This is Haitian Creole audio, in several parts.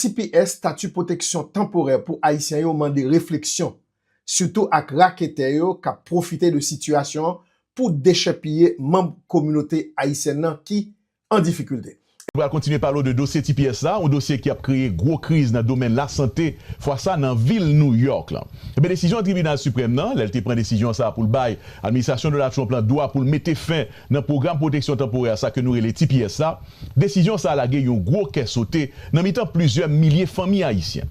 tps, Stati Pwoteksyon Tanporè pou Ayisyen yo, mande refleksyon, sitou ak raketè yo k ap pwofite de sitiyasyon an pou dechèpiye manb kominote ayisyèn nan ki an difikilte. Nou pral kontinye pale w de dosye tps la, yon dosye ki ap kreye gwo kriz nan domèn lasante, fwa sa nan vil New York lan. Enben, desizyon Tribinal Siprèm nan, lè l te pran desizyon sa a pou l bay Administrasyon Donald Trump lan dwa pou l mete fen Nan pwogram pwoteksyon tanporè sa ke nou rele tps la, desizyon sa lage yon gwo kè sote nan mitan plizyè milye fanmi ayisyen.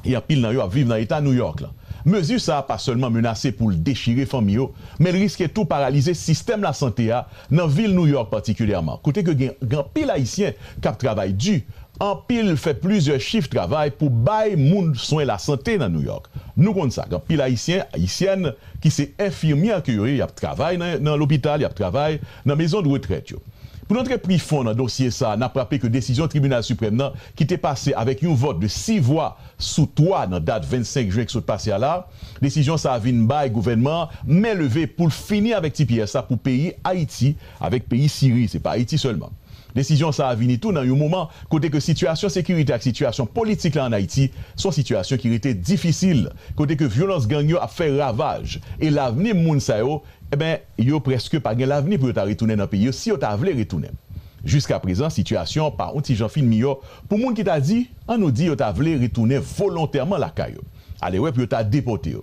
E anpil nan yo ap viv nan eta New York la. Mezi sa pa sèlman menase pou l dechire fanmi yo, men l riske tou paralize sistèm lasante a nan vil New York patikilyèman, kote ke gen anpil ayisyen k ap travay di, anpil fè plizyè chif travay pou bay moun swen lasante nan New York. Nou konn sa, gen anpil ayisyen, ayisyèn, ki se enfimyè ke yo ye, y ap travay nan lopital, y ap travay nan mezondretrèt yo. Pou n antre pri fon nan dosye sa a, n ap raple ke desizyon Tribinal Siprèm nan ki te pase avèk yon vòt de 6 vwa sou 3 nan dat 25 jen ki sot pase a la, desizyon sa a vin bay gouvènman an men leve pou l fini avèk tps la pou peyi Ayiti avèk peyi Siri, se pa Ayiti sèlman. Desizyon sa a vini tou nan yon moman kote ke sitiyasyon sekirite ak sitiyasyon politik la an Ayiti se yon sitiyasyon ki rete difisil, kote ke vyolans gang yo ap fè ravaj e lavni moun sa yo, enben, yo prèske pa gen lavni pou yo ta retounen nan peyi yo, si yo ta vle retounen. Jiskaprezan, sitiyasyon an pa yon ti jan fin miyò pou moun ki ta di, an nou di yo ta vle retounen volontèman lakay yo. Alewè pou yo ta depòte yo.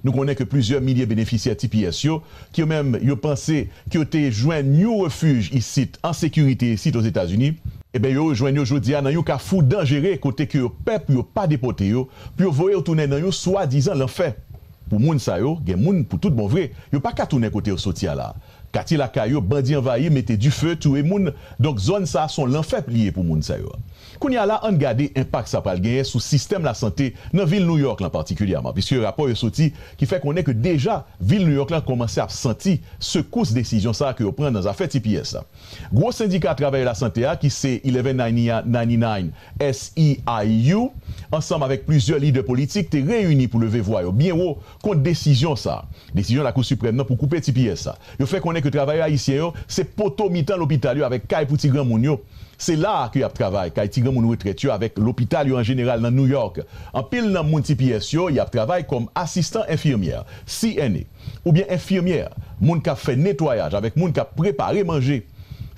Nou konnen ke plizyè milye benefisyè tps yo, ke yo menm yo panse ke yo te jwenn yon refij isit an sekirite isit Ozetazini, eben yo rejwenn yo jodi a nan yon kafou danjere kote ke yo pè pou yo pa depòte yo, pou yo voye yo tounen nan yon swadizan lanfè. Pou moun sa yo, gen moun pou tout bon vre, yo pa ka tounen kote yo soti a la. Katye lakay yo, bandi anvayi, mete dife, touye moun, donk zòn sa son lanfè li ye pou moun sa yo. Kounye a la, ann gade enpak sa pral genyen sou sistèm lasante nan vil New York lan patikilyèman, piske rapò yo soti ki fè konnen ke deja vil New York lan kòmanse ap santi sekous desizyon sa ke yo pran nan zafè tps la. Gwo sendika travayè lasante a ki se 1199 SEIU ansanm avèk plizyè lidè politik te reyini pou leve vwa yo byen wo kont desizyon sa a, desizyon Lakou Siprèm nan pou koupe tps sa. Yo fè konnen ke travayè ayisyen yo se poto mitan lopital yo avèk kay pou ti granmoun yo. Se la a ke y ap travay, kay ti granmoun retrèt yo avèk lopital yo an jeneral nan New York. Anpil nan moun tps yo, y ap travay kòm asistan enfimyè, CNA, oubyen enfimyè, moun k ap fè netwayaj avèk moun k ap prepare manje.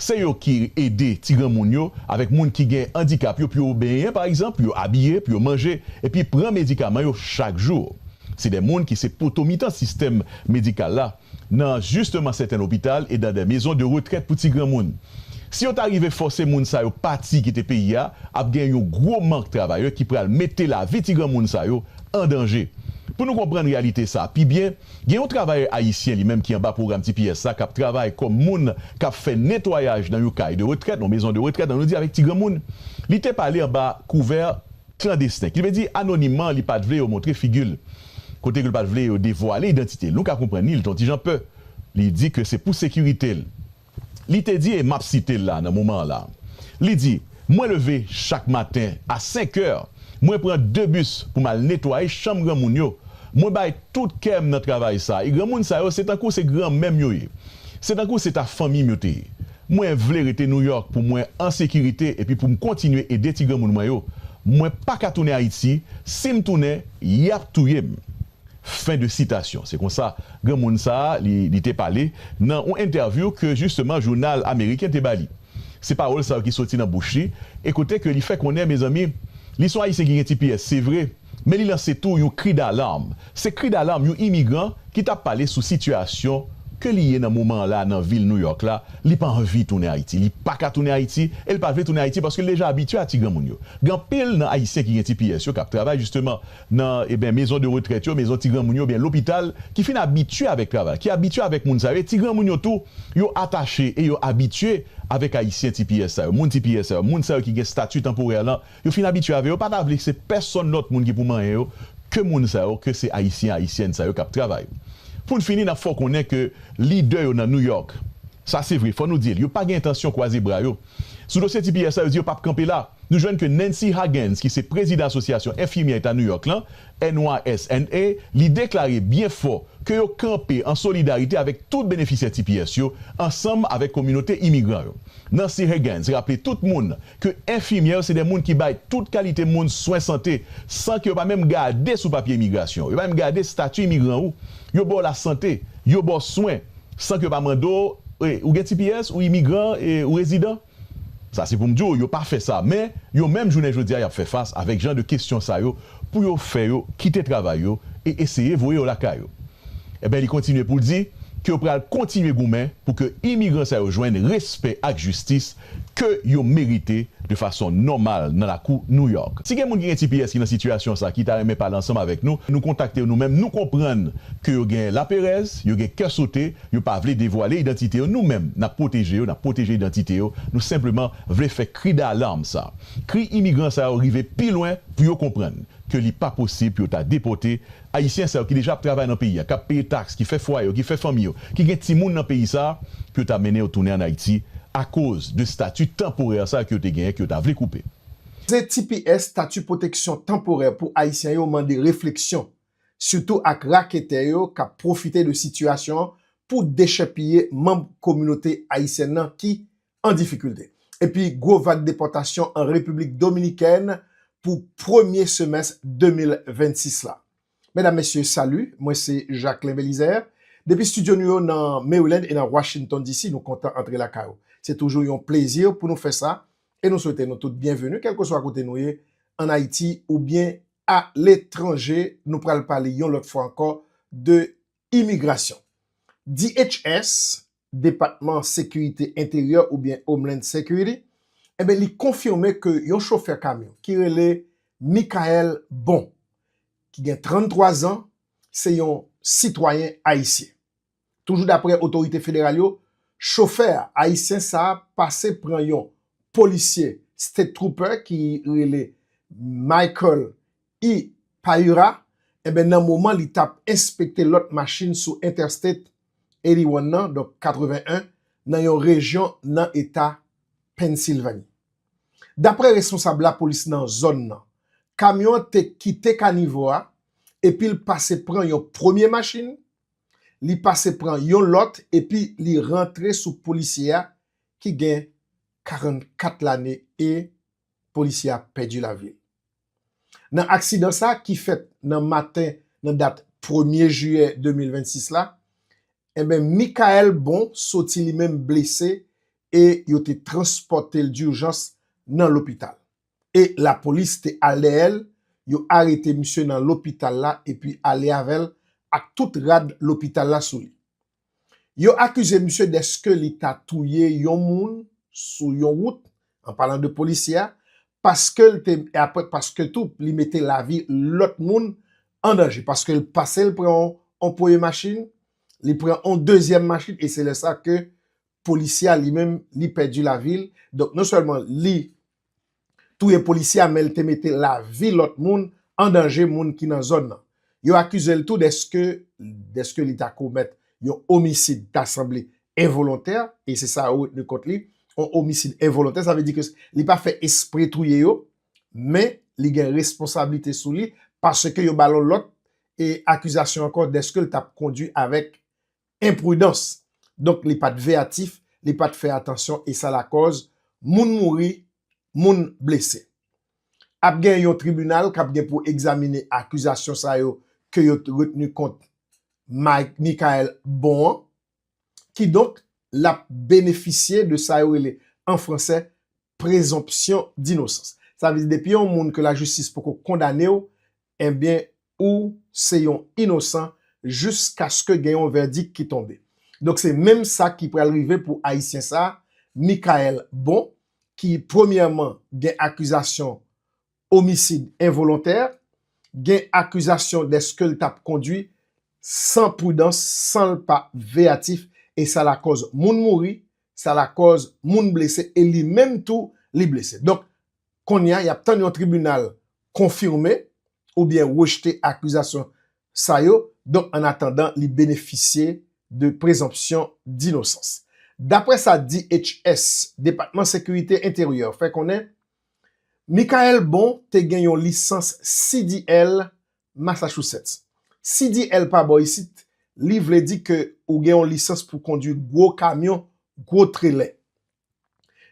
Se yo ki ede ti granmoun yo avèk moun ki gen andikap yo pou yo benyen pa egzanp, pou yo abiye, pou yo manje epi pran medikaman yo chak jou. Se de moun ki se poto mitan sistèm medikal la nan jisteman sèten lopital e dan de mezon de retrèt pou ti granmoun. Si yo ta rive fòse moun sa yo pati kite peyi a, ap gen yon gwo mank travayè ki pral mete lavi ti granmoun sa yo an danje. Pou nou konprann reyalite sa pi byen, Gen yon travayè ayisyen li menm ki anba pwogram tps la k ap travay kòm moun k ap fè netwayaj nan yon kay de retrèt, yon mezon de retrèt an nou di avèk ti granmoun. Li te pale anba kouvè klandesten, ki vle di anonimman, li pa t vle yo montre figi l, kote ke l pa t vle yo devwale idantite l. Nou ka konprann li, li te yon ti jan pè. Li di ke se pou sekirite l. Li te di, e m ap site l la nan moman an la, li di, Mwen leve chak maten a senkè, mwen pran de bis pou m al netwaye chanm granmoun yo. Mwen bay tout kè m nan travay sa a, e granmoun sa yo se tankou se granmè m yo ye. Se tankou se ta fanmi m yo te ye. Mwen vle rete Nouyòk pou mwen an sekirite epi pou m kontinye ede ti granmoun mwen yo. Mwen pa ka tounen Ayiti, si m tounen, y ap touye m. Fen de sitasyon. Se konsa granmoun sa a li te pale nan yon entèvyou ke jisteman jounal ameriken te ba li. Se pawòl sa yo ki soti nan bouch li e kote ke li fè konnen mezanmi li son ayisyen ki gen tps se vre men li lanse tou yon kri dalarm. Se kri dalarm yon imigran ki ta pale sou sitiyasyon ke li ye nan moman an la nan vil Nouyòk la. Li pa anvi tounen Ayiti. Li pa ka tounen Ayiti e li pa vle tounen Ayiti paske li deja abitye a ti granmoun yo. Gen anpil nan ayisyen ki gen tps yo kap travay jisteman nan eben mezon de retrèt yo, mezon ti granmoun yo oubyen lopital ki fin abitye avèk travay, ki abitye avèk moun sa yo e ti granmoun yo tou yo atache e yo abitye avèk ayisyen tps sa yo, moun tps sa yo, moun sa yo ki gen stati tanporè lan yo fin abitye avè yo pa ta vle se pèsonn lòt moun ki pou manyen yo ke moun sa yo ke se ayisyen ayisyèn sa yo kap travay. Poun fini nap fè w konnen ke lidè yo nan New York sa se vre fò nou di l yo pa gen entansyon kwaze bra yo, Sou dosye tps la, yo di yo pap kanpe la. Nou jwenn ke Nancy Hagans ki se prezidan Asosyasyon Enfimyè Eta New York lan, NYSNA, li deklare byen fò ke yo kanpe an solidarite avèk tout benefisyè tps yo ansanm avèk kominote imigran yo. Nancy Hagans raple tout moun ke enfimyè yo se de moun ki bay tout kalite moun swen sante san ke yo pa menm gade sou papye imigrasyon w, yo pa menm gade stati imigran ou, yo ba w lasante, yo ba w swen. san ke yo pa mande w e ou gen tps, ou imigran e ou rezidan? Sa se pou m di w yo pa fè sa men yo menm jounen jodi a y ap fè fas avèk jan de kesyon sa yo pou yo fè yo kite travay yo e eseye voye yo lakay yo. Enben li kontinye pou l di ke yo pral kontinye goumen pou ke imigran sa yo jwenn respè ak jistis ke yo merite de fason nòmal nan lakou New York. Si gen moun ki gen tps ki nan sitiyasyon sa ki ta renmen pale ansanm avèk nou, nou kontakte yo nou menm, nou konprann ke yo gen laperèz, yo gen kè sote, yo pa vle devwale idantite yo, nou menm nap pwoteje yo, nap pwoteje idantite yo, nou senpleman vle fè kri dalarm sa, kri imigran sa yo rive pi lwen pou yo konprann ke li pa posib pou yo ta depòte Ayisyen sa yo ki deja ap travay nan peyi a, k ap peye taks, ki fè fwaye yo, ki fè fanmi yo, ki gen timoun nan peyi sa a, pou yo ta mennen yo tounen ann Ayiti akoz de stati tanporè sa a ke yo te genyen, ke yo ta vle koupe. Ze tps, Stati Pwoteksyon Tanporè pou Ayisyen yo, mande refleksyon, sitou ak raketè yo k ap pwofite de sitiyasyon an pou dechèpiye manm kominote ayisyèn nan ki, an difikilte, epi gwo vag depòtasyon an Repiblik Dominikèn pou premye semès 2026 la. Medam, Mesye, salut, mwen se Jacquelin Belizaire. Depi studio nou yo nan Maryland e nan Washington DC, nou kontan antre lakay ou. Se toujou yon plezi pou nou fè sa e nou swete nou tout byenveni, kèlkeswa kote nou ye, an Ayiti oubyen aletranje. Nou pral pale yon lòt fwa ankò de Imigrasyon. DHS, Depatman Sekirite Enteryè oubyen Homeland Security, enben li konfime ke yon chofè kamyon ki rele Mickael Bon, ki gen 33 zan, se yon sitwayen ayisyen. Toujou dapre otorite federal yo, chofè a, ayisyen sa a, pase pran yon polisye State Trooper ki rele Michael I. Payura, enben nan moman li tap enspekte lòt machin sou Interstate 81 nan, donk 81, nan yon rejyon nan eta Pennsylvanie. Daprè responsab lapolis nan zòn nan, kamyon an te kite kanivo a epi l pase pran yon premye machin, li pase pran yon lòt epi li rantre sou polisye a ki gen 44 lane e polisye a pèdi lavi l. Nan aksidan sa ki fèt nan maten nan dat premye jiyè 2026 la, enben Mickaël Bon soti li menm blese e yo te transpòte l durjans nan lopital. E lapolis te al dèyè l, yo arete misye nan lopital la epi ale avè l ak tout rad lopital la sou li. Yo akize misye deske li ta touye yon moun sou yon wout, an palan de polisye a, paske l te, e aprè paske tou li mete lavi lòt moun an danje, paske l pase l pran yon premye machin, li pran yon dezyèm machin, e se lè sa ke polisye a li menm li pèdi lavi l, donk non sèlman li. touye polisye a men l te mete lavi lòt moun an danje moun ki nan zòn nan. Yo akize l tou deske deske li ta komèt yon omisid ta sanble envolontè e se sa yo retni kont li, yon omisid envolontè sa vle di ke li pa fè espre touye yo men li gen responsablite sou li paske yo ba l yon lòt e akizasyon ankò deske l t ap kondwi avèk enpridans. Donk li pat veyatif, li pat fè atansyon e sa lakòz moun mouri, moun blese. Ap gen yon tribinal kap gen pou egzamine akizasyon sa yo ke yo t retni kont Mickaël Bon an. Kidonk lap benefisye de sa yo rele an fransè prezonpsyon dinosans. Sa vle di depi yon moun ke lajistis poko kondane w, Enbyen ou se yon inosan jiskaske gen yon vèdik ki tonbe. Donk se menm sa ki pral rive pou ayisyen sa, Mickaël Bon, ki premyèman gen akizasyon omisid envolontè, gen akizasyon dèske l t ap kondwi san pridans, san l pa veyatif e sa lakòz moun mouri, sa lakòz moun blese e li menm tou li blese. Donk Kounye a, y ap tann yon tribinal konfime oubyen rejte akizasyon sa yo, donk an atandan li benefisye de prezonpsyon dinosans. Daprè sa DHS, Depatman Sekirite Enteryè, fè konnen, Mickael Bon te gen yon lisans CDL Massachusetts. CDL pa bò isit li vle di ke ou gen yon lisans pou kondwi gwo kamyon, gwo trelè.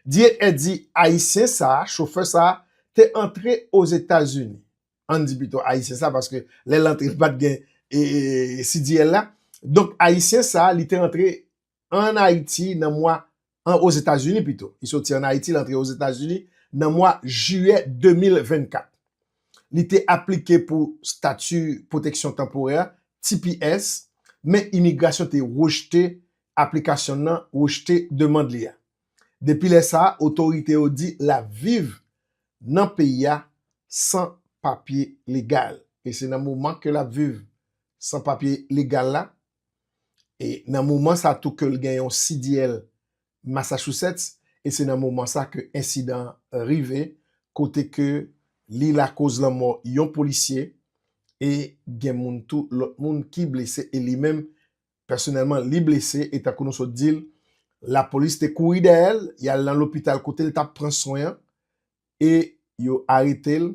DNA di Ayisyen sa a, chofè sa a, te antre Ozetazini, ann di pito Ayisyen sa a paske lè l antre li pa t gen CDL la, donk Ayisyen sa a li te antre ann Ayiti nan mwa, an Ozetazini pito, li soti ann Ayiti li antre Ozetazini nan mwa jiyè 2024. Li te aplike pou stati pwoteksyon tanporè, tps, men imigrasyon te rejte aplikasyon nan rejte demand li a. Depi lè sa a, otorite yo di l ap viv nan peyi a san papye legal. E se nan moman ke l ap viv san papye legal la, e nan moman sa tou ke l gen yon CDL Massachusetts, e se nan moman sa ke ensidan an rive, kote ke li lakoz lanmò yon polisye, e gen moun tou, lòt moun ki blese, e li menm Pèsonèlman, li blese e tankou nou sot di l, lapolis te kouri dèyè l, y al nan lopital kote l t ap pran swen e yo arete l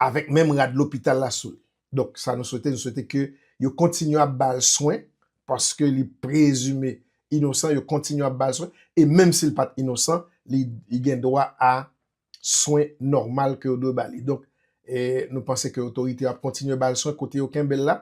avèk menm rad lopital la sou li. Donk, sa nou swete, nou swete ke yo kontinye ap ba l swen paske li prezime inosan, yo kontinye ap ba l swen e menm si l pa t inosan, li gen dwa a swen nòmal ke yo dwe ba li. Donk, nou panse ke otorite yo ap kontinye ba l swen kote yo kenbe l la.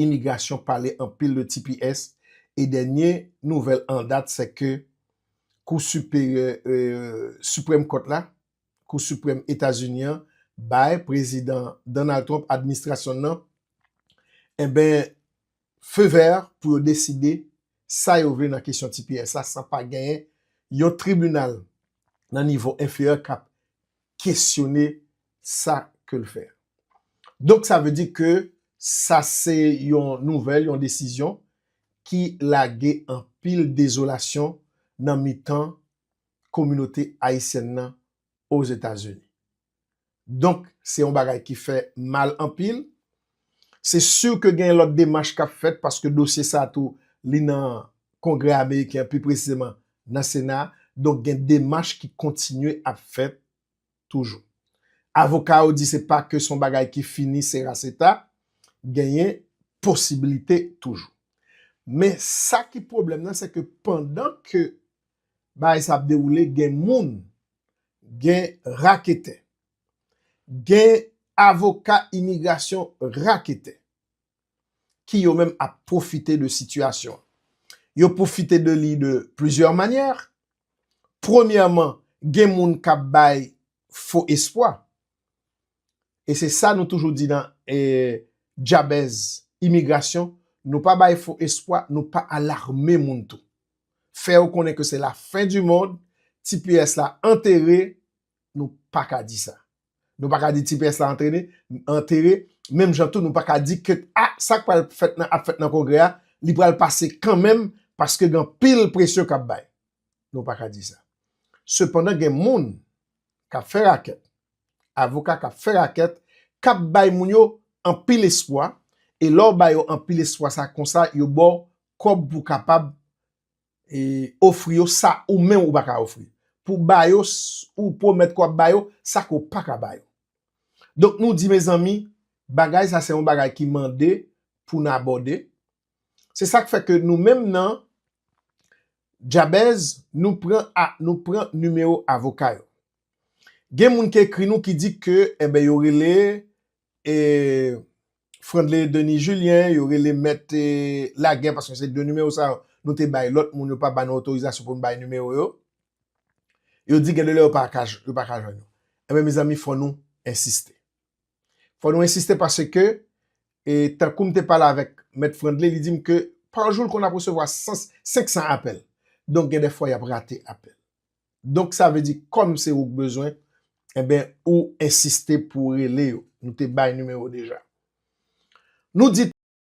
imigrasyon pale anpil de tps e dènye nouvèl an dat se ke kou siperyè siprèm kòt la, kou siprèm Etazini an bay prezidan Donald Trump administrasyon n nan enben feu vert pou yo deside sa yo vle nan kesyon tps la san pa genyen yon tribinal nan nivo enferyè k ap kesyone sa ke l fè. Donk sa vle di ke sa se yon nouvèl, yon desizyon ki lage anpil dezolasyon nan mitan kominote ayisyèn nan Ozetazini. Donk se yon bagay ki fè mal anpil, Se sur ke gen lòt demach kap fèt paske dosye sa tou li nan Kongrè Ameriken an pi presizeman nan Sena a, donk gen demach ki kontinye ap fèt toujou. Avoka yo di se pa ke son bagay ki fini sera seta, genyen posibilite toujou. Men sa ki pwoblèm nan se ke pandan ke bagay sa ap dewoule gen moun, gen raketè, Gen avoka imigrasyon raketè ki yo menm ap pwofite de sitiyasyon an. Yo pwofite de li de plizyè manyè. Premyèman, gen moun k ap bay fo espwa. E se sa nou toujou di nan Djabèz Imigrasyon, nou pa bay fo espwa, nou pa alarme moun tou. Fè yo konnen ke se lafen di mond, tps la antere, nou pa ka di sa. Nou pa ka di ti pyès la antrene, antere, menm jan tou nou pa ka di ke a sa k pral fèt nan ap fèt nan kongrè a, li pral pase kanmenm paske gen anpil presyon k ap bay. Nou pa ka di sa. Sepandan gen moun k ap fè rakèt, avoka k ap fè rakèt, k ap bay moun yo anpil espwa e lè w ba yo anpil espwa sa konsa yo ba w kòb pou w kapab ofri yo sa ou menm ou pa ka ofri, pou ba yo ou pwomèt ke w ap ba yo sa ke w pa ka ba yo. Donk nou di mezanmi bagay sa se yon bagay ki mande pou n abòde, se sa k fè ke nou menm nan Djabèz nou pran a nou pran nimewo avoka yo. Gen moun ki ekri nou ki di ke enben yo rele e Frandley Denis Julien yo rele mèt lagè paske se 2 nimewo sa yo nou te bay lòt moun yo pa ba nou otorizasyon pou nou bay nimewo yo yo di gen de lè yo pa ka yo pa ka jwenn nou enben mezanmi fò nou ensiste fò nou ensiste paske e tankou m te pale avèk mèt Frandley li di m ke pa jou l konn ap resevwa 100 500 apèl donk gen de fwa y ap rate apèl Donk sa vle di kòm se ou k bezwen enben ou ensiste pou rele yo. Nou te bay nimewo deja. Nou di.